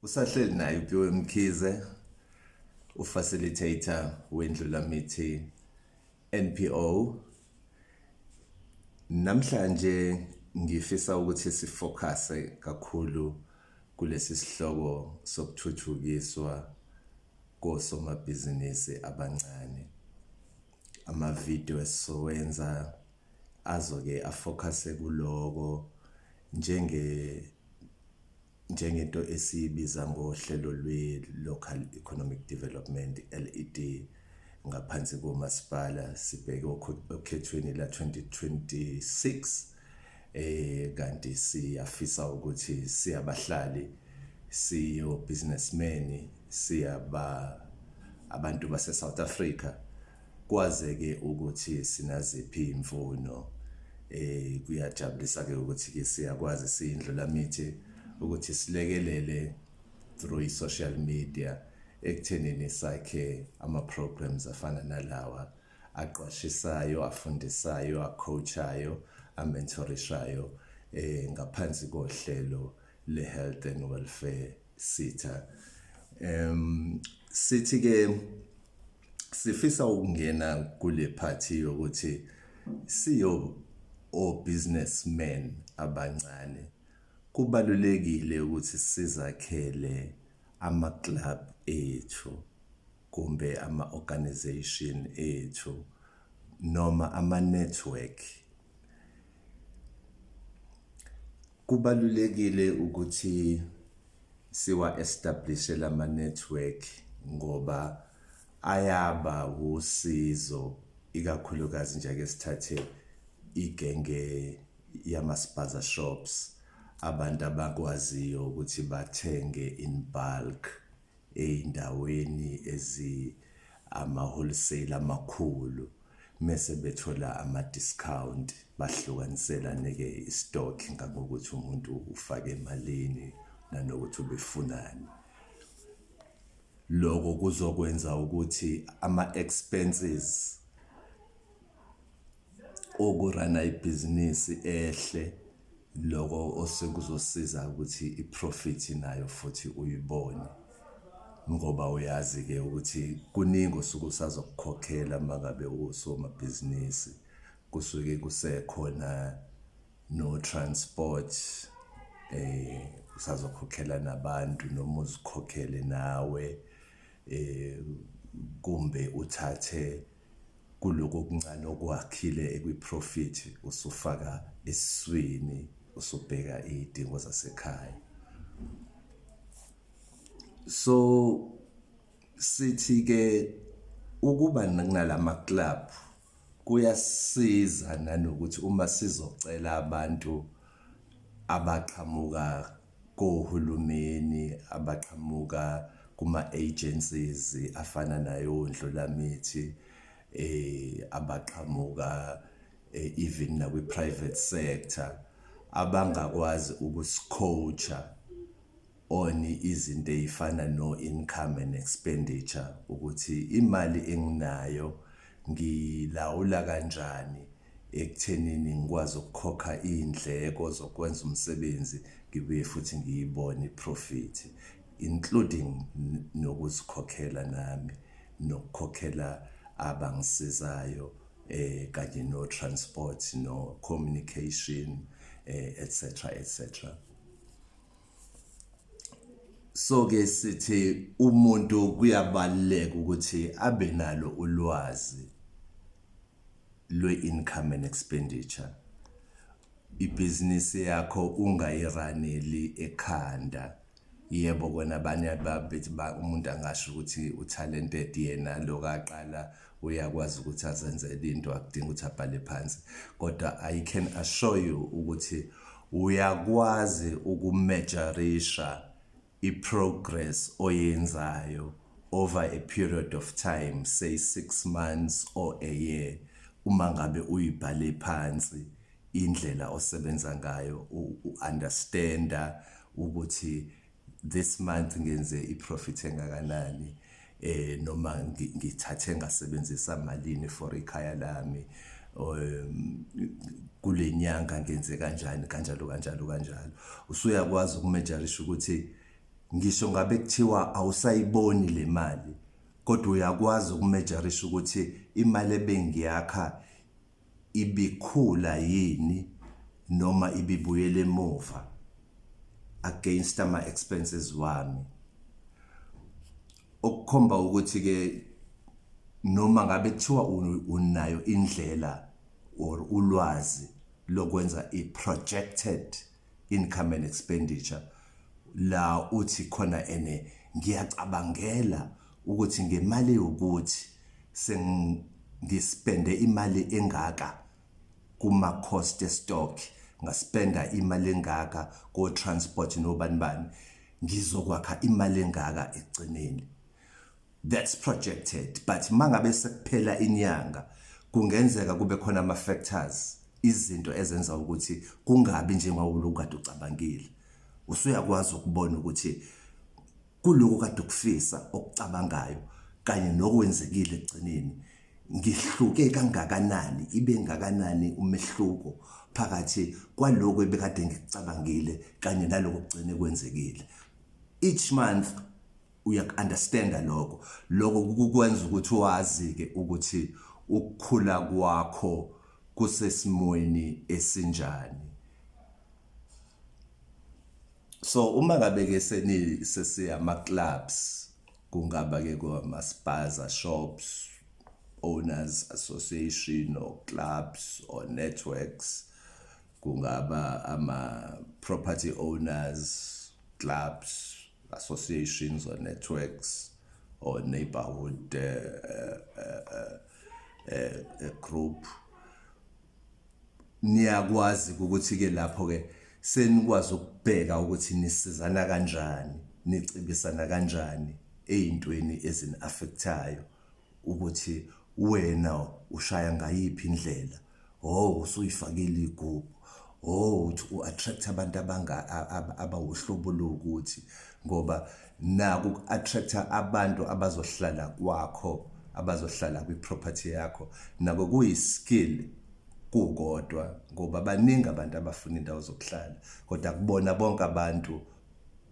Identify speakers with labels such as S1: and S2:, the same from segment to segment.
S1: usahleli naye uPhiwe Mkhize ufacilitator wendlulamithi NPO namhlanje ngifisa ukuthi sifocuse kakhulu kulesi sihloko sokuthuthukiswa kosomabhizinisi abancane amavidiyo esizowenza azoke afocuse kuloko njenge njengento esiyibiza ngohlelo lwe-Local Economic Development, LED, ngaphansi komasipala sibheke okhethweni la-2026 eh kanti siyafisa ukuthi siyabahlali siyo businessmen siyaba abantu base South Africa Kwazeke ukuthi sinaziphi imfuno eh kuyajabulisa ke ukuthi ke siyakwazi siyindlulamithi ukuthi silekelele through social media ekuthenini sakhe ama programs afana nalawa aqwashisayo afundisayo acoachayo amentorishayo eh ngaphansi kohlelo le health and welfare sitha um sithi ke sifisa ukungena kule party yokuthi siyo o businessmen abancane kubalulekile ukuthi sizakhele ama club ethu kumbe ama organization ethu noma ama network Kubalulekile ukuthi siwa-establishe lama-network ngoba ayaba wusizo, ikakhulukazi nje ake sithathe igenge yamaspaza shops, abantu abakwaziyo ukuthi bathenge in bulk ey'ndaweni ezi ama-wholesale amakhulu mese bethola ama-discount bahlukaniselane-ke i-stock ngangokuthi umuntu ufake emalini nanokuthi ubefunani. Loko kuzokwenza ukuthi ama-expenses. ukurana ibhizinisi ehle loko osekuzosiza ukuthi i-profit nayo futhi uyibone ngoba uyazi-ke ukuthi kuningi osuke usazokukhokhela uma ngabe usomabhizinisi kusuke kusekhona no-transport eh usazokhokhela nabantu noma uzikhokhele nawe eh kumbe uthathe Kuloko okuncane okwakhile ekwiphrofithi usufaka esiswini usubheka iy'dingo zasekhaya. So sithi-ke ukuba nala ma-club kuyasiza nanokuthi uma sizocela abantu abaqhamuka kohulumeni abaqhamuka kuma-agencies afana nayo Ndlulamithi eh abaqhamuka eh, even nakwi-private sector abangakwazi ukusicoacha on izinto ey'fana no-income and expenditure ukuthi imali enginayo ngilawula kanjani ekuthenini ngikwazi ukukhokha iy'ndleko zokwenza umsebenzi ngibuye futhi ngiyibone i-profit including nokuzikhokhela nami nokukhokhela abangisizayo eh kanye no transport no communication eh etc etc so ke sithi umuntu kuyabaluleka ukuthi abe nalo ulwazi lwe-income and expenditure ibhizinisi yakho ungayiraneli ekhanda yebo kona abanye babethi umuntu angasho ukuthi utalented yena lokaqala uyakwazi ukuthi azenzele into akudinga ukuthi abhale phansi kodwa i can assure you ukuthi uyakwazi ukumejarisha i-progress oyenzayo over a period of time say 6 months or a year uma ngabe uyibhale phansi indlela osebenza ngayo u-understanda ukuthi this month ngenze iprofit engakanani eh noma ngithathe ngasebenzisa malini for ikhaya lami um kulenyanga ngenze kanjani kanjalo kanjalo kanjalo usuyakwazi ukumejarisha ukuthi ngisho ngabe kuthiwa awusayiboni le mali kodwa uyakwazi ukumejarisha ukuthi imali ebengiyakha ibikhula yini noma ibibuyela emuva against ama expenses wami okukhomba ukuthi ke noma ngabe kuthiwa unayo indlela or ulwazi lokwenza i projected income and expenditure la uthi khona ene ngiyacabangela ukuthi ngemali yokuthi sengispende imali engaka kuma cost stock ngaspenda imali engaka ko transport nobani bani ngizokwakha imali engaka ekugcineni That's projected but mangabe sekuphela inyanga kungenzeka kube khona ama factors izinto ezenza ukuthi kungabi njengawuloko kade ucabangile usuyakwazi ukubona ukuthi kuloko kade ukufisa okucabangayo kanye nokwenzekile egcineni ngihluke kangakanani ibe ngakanani umehluko phakathi kwaloko ebekade ngicabangile kanye naloko kugcine kwenzekile each month uyaku-understanda lokho lokho kukwenza ukuthi wazi-ke ukuthi ukukhula kwakho kusesimweni esinjani so uma ngabe ke seni sesiyama clubs kungaba ke kwama spas shops owners association or clubs or networks kungaba ama property owners clubs associations or networks or neighborhood uh, uh, uh, group niyakwazi ukuthi ke lapho ke senikwazi ukubheka ukuthi nisizana kanjani nicibisana kanjani ezintweni ezini affectayo ukuthi wena ushaya ngayiphi indlela oh usuyifakile igubhu oh uthi u-attract abantu abanga abawuhlobo lokuthi ngoba naku ku-attract abantu abazohlala kwakho abazohlala kwi-property yakho nako kuyi-skill kukodwa ngoba baningi abantu abafuna indawo zokuhlala kodwa kubona bonke abantu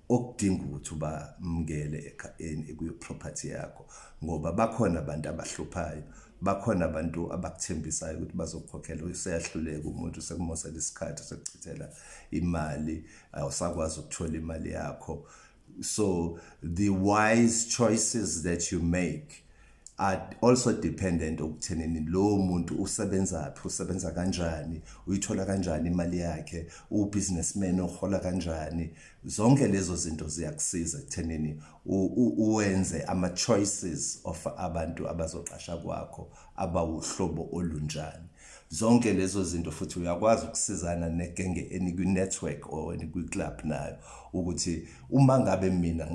S1: okudinga ukuthi ubamukele ekhayeni ekuyo property yakho ngoba bakhona abantu abahluphayo bakhona abantu abakuthembisayo ukuthi bazokukhokhela useyahluleka umuntu sekumosela isikhathi sekuchithela imali awusakwazi ukuthola imali yakho so the wise choices that you make are also dependent okuthenini lowo muntu usebenzaphi usebenza kanjani uyithola kanjani imali yakhe ubusinessman ohola kanjani zonke lezo zinto ziyakusiza ekuthenini uwenze ama choices of abantu abazoqasha kwakho abawuhlobo olunjani zonke lezo zinto futhi uyakwazi ukusizana negenge enikwi-network or enikwi-club nayo ukuthi uma ngabe mina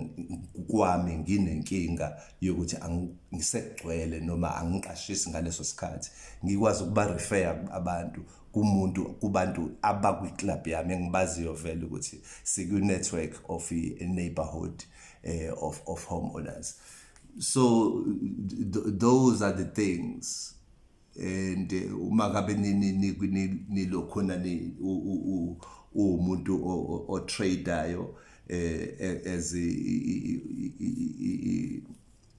S1: kwami nginenkinga yokuthi angisegcwele noma angiqashisi ngaleso sikhathi ngikwazi ukuba refer abantu kumuntu kubantu abakwi club yami engibaziyo vele ukuthi siku network of a neighborhood eh, of of homeowners so th those are the things and uma kabe nilokhona uwumuntu otradeayo eh, as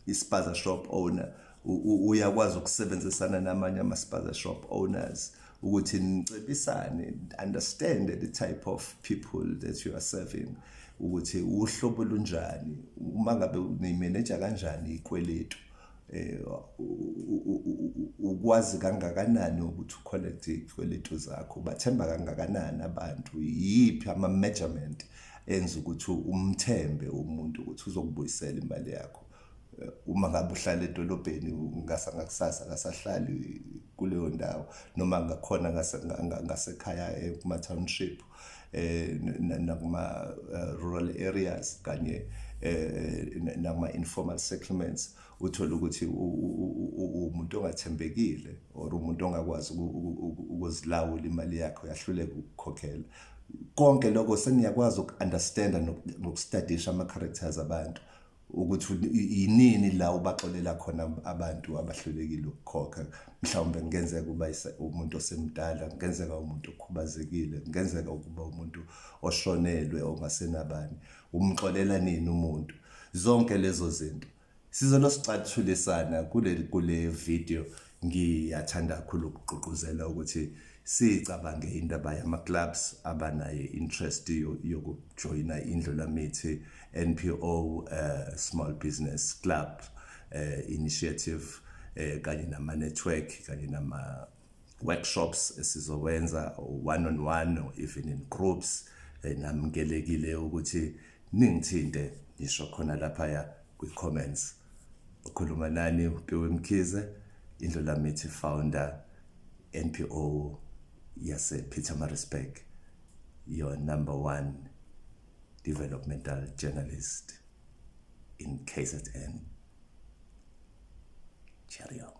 S1: ispaza shop owner uyakwazi ukusebenzisana namanye amaspaza shop owners ukuthi nicebisane understand the type of people that you are serving ukuthi uhlobo lunjani uma ngabe niyimeneja kanjani ikweletu eh ukwazi kangakanani ukuthi ucollect izikweletu zakho bathemba kangakanani abantu yiphi ama measurement enza ukuthi umthembe umuntu ukuthi uzokubuyisela imali yakho eh, uma ngabe uhlala edolobheni ngasa ngakusasa kasahlali kuleyo ndawo noma ngakhona ngasekhaya eh, kuma township eh nakuma eh, rural areas kanye eh, nakuma informal settlements uthola ukuthi umuntu ongathembekile or umuntu ongakwazi ukuzilawula imali yakhe uyahluleka ukukhokhela konke lokho seniyakwazi ukunderstanda nokustadisha ama characters abantu ukuthi yinini la ubaxolela khona abantu abahlulekile ukukhokha mhlawumbe kungenzeka uba umuntu osemdala kungenzeka umuntu okhubazekile kungenzeka ukuba umuntu oshonelwe ongasenabani umxolela nini umuntu zonke lezo zinto sizolo sicathulisana kule kule video Ngiyathanda kakhulu ukugqugquzela ukuthi sicabange indaba yama-clubs abanayo interest yokujoyina indlu lamithi NPO uh, eh, small business club uh, initiative uh, kanye nama-network kanye nama workshops esizowenza one on one or even in groups namkelekile ukuthi ningithinte ngisho khona laphaya kwi comments ukhuluma nani uPhiwe Mkhize indlulamithi founder NPO yase Pietermaritzburg your number one developmental journalist in KZN Cheerio